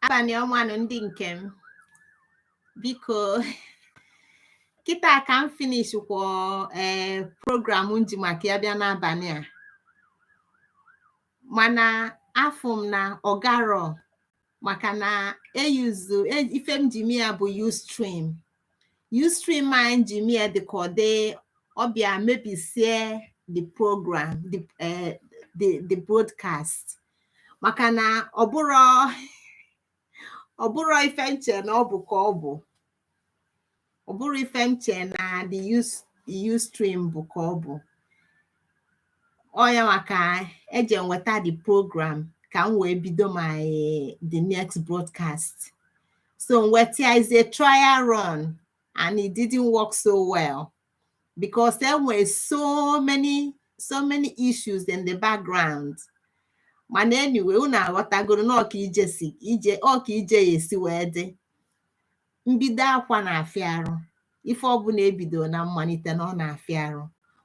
abanị ọma nụ ndị nke m biko kịta ka m finish kwọ ee eh, program m ji maka ya bịa n'abanị a mana afụ m na ọ garọ maka na e use e e, ife m ji mie bụ ustream ustream a m ji mie dị ka ọ dị ọ bịa mebisie the program the, uh, the, the broadcast maka na ọ bụrọ ọ bụrọ ife m che na ọ bụ ka ọ bụ ọ bụrọ ife m chee na the Ustream bụ ka ọ bụ ọ ya maka eje nweta the program ka m wee bido my the next broadcast so nke taa is a trial run and it didn't work so well because there were so many so many issues in the background mana anyway unu aghọtagoro na ọ ka ije si eje ọ ka ije ya si wee dị mbido akwa na-afịa arụ ife ọbụla e bido na mmalite na ọ na-afịa arụ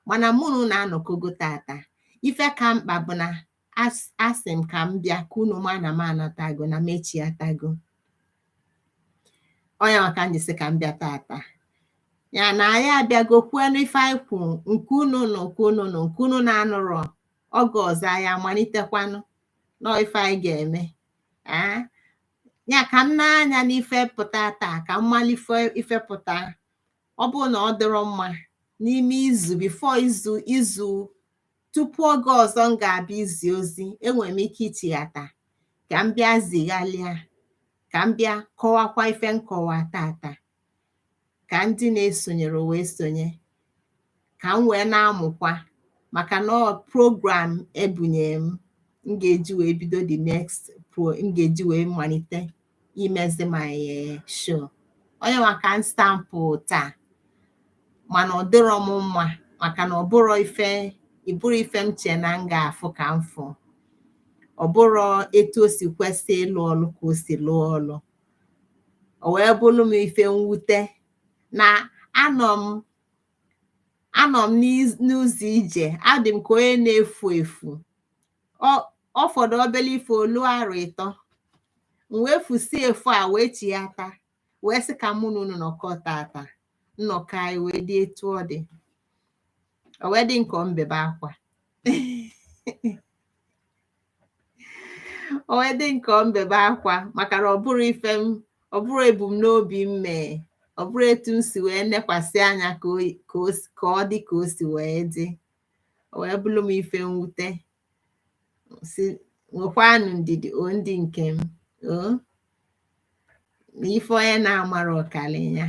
mana mụ na unu anọkọgo tata ife ka mkpa bụ na as- asị m ka m bịa ka unu ma na m anatago na m echiatago ọ nya maka m ji sị ka m bịa tata ya na anyị abịago kwuo n'ife anyị kwuru nke unu nụ nke unu nụ nke unu na-anụrọ oge ọzọ anyị amalitekwanụ nọ ife anyị ga-eme aa ya ka m nee anya n'ife pụta taa ka m malụ ife pụta ọ bụrụ na ọ dịrọ mma n'ime izu before izu izu tupu oge ọzọ m ga-abịa izi ozi enwere m ike ichighata ka m bịa zigharịa ka m bịa kọwakwa ife m kọwa tata ka ndị na-esonyerọ wee sonye ka m wee na-amụkwa maka na ọ program e bunye m m ga-eji wee bido the next pro m ga-eji wee malite imezi my eh, show ọ nya maka m sị ka m pụta mana ọ dịrọ m mma maka na ọ bụrọ ife ọ bụrọ ife m chee na m ga-afụ ka m fụ ọ bụrọ etu o si kwesị ịlụ ọlụ ka o si lụọ ọlụ o wee bụrụ m ife mwute na anọ m anọ m n'ụzọ ije adị m ka onye na-efu efu ọ fọdụ obere ife o lu arọ ịtọ m wee fusi efu a wee chia taa wee sị ka mụ na unu nọkọ tata nnọkọ anyị wee dị etu ọ dị o wee dị nke mbebe akwa o wee dị m ka m bebe akwa maka na ọ bụrọ ife m ọ bụrọ ebumnobi m mee ọ bụrọ etu m si wee nekwasị anya ka o yi- ka o si- ka ọ dị ka o si wee dị o wee bụrụ m ife mwute sị nwekwanụ ndidi o ndị nke m o na ife onye na-amarọ ọ kalị ya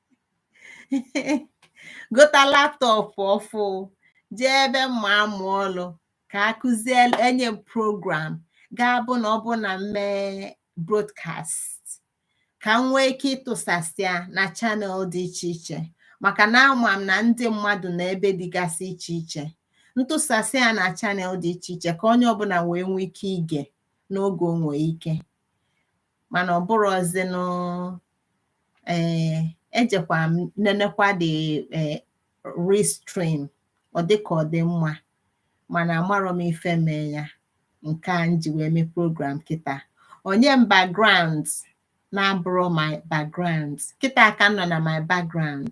gota laptop ọfụụ jee ebe m ma-amụ ọlụ ka a kụzie nye m program ga-abụ na ọ bụ na m mee broadcast ka m nwee ike ịtụsasị ya na channel dị iche iche maka na ama m na ndị mmadụ nọ ebe dịgasị iche iche m tụsasị ya na channel dị iche iche ka onye ọbụla wee nwee ike ige n'oge o nwe ike mana ọ bụrọzinụ ee eh, ejekwa m nenekwa the eh, restream ọ dị ka ọ dị mma mana amarọ m ife mee ya nke a m ji wee mee program kịta o nye m background na-abụrọ my background kịta ka m nọ na my background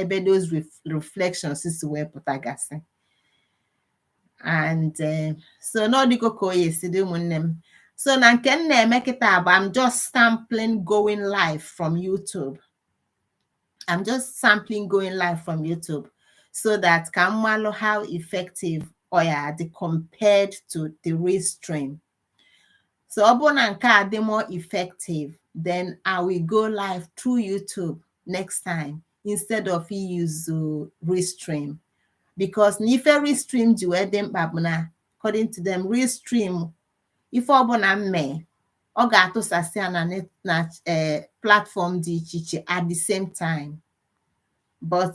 ebe those reflections si wee pụtagasị and eh, so na ọ dịgo ka ọ ya-esi dị ụmụnne m so na nke m na-eme kịta bụ I'm just sampling going live from YouTube I'm just sampling going live from YouTube so that ka m malụ how effective ọ ya-adị compared to the restream so ọ bụrụ na nke a dị more effective then I will go live through YouTube next time instead of use uh, restream because na ife restream ji wee dị mkpa bụ na according to them restream ife ọbụla m mee ọ ga-atụsasị ya na net na eh, platform dị iche iche at the same time but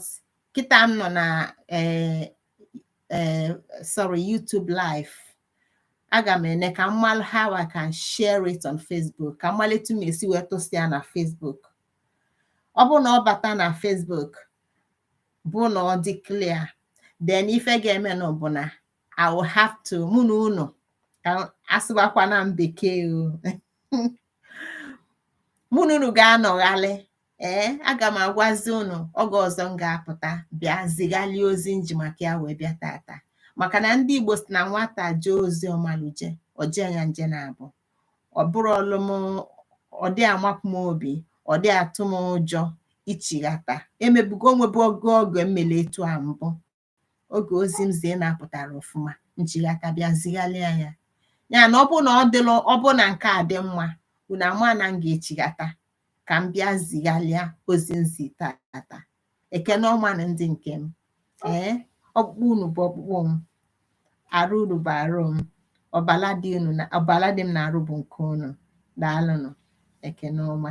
kịta m nọ na eh, eh, sorry YouTube live aga m ene ka m malụ how I can share it on Facebook ka m malụ etu m esi wee tụsị ya na Facebook ọ bụrụ na ọ bata na Facebook bụ na ọ dị clear then ife ga-emenụ bụ na I will have to mụ na unu ka asụbakwana m bekee o mụ na unu ga-anọghalị ee aga m agwazi unu oge ọzọ m ga-apụta bịa zighalie ozi m ji maka ya wee bịa tata maka na ndị Igbo si na nwata jee ozi ọ marọ eje o jee ya nje naabọ ọ bụrọ ọlụ m ọ dị amapụ m obi ọ dị atụ m ụjọ ichighata emebugo o nwebugo oge m mele etu a mbụ oge ozi m zie na-apụtarọ ọfụma m chighata bịa zigharịa ya ya na ọ bụrụ na ọ dịla ọ bụrụ na nke a dị mma unu ama na m ga-echighata ka m bịa zigharịa ozi m zi taata ekene ọma nụ ndị nke m ee ọkpụkpụ unu bụ ọkpụkpụ m arụ unu bụ arụ m ọbala dị unu na ọbala dị m n'arụ bụ nke unu daalụnụ ekene ọma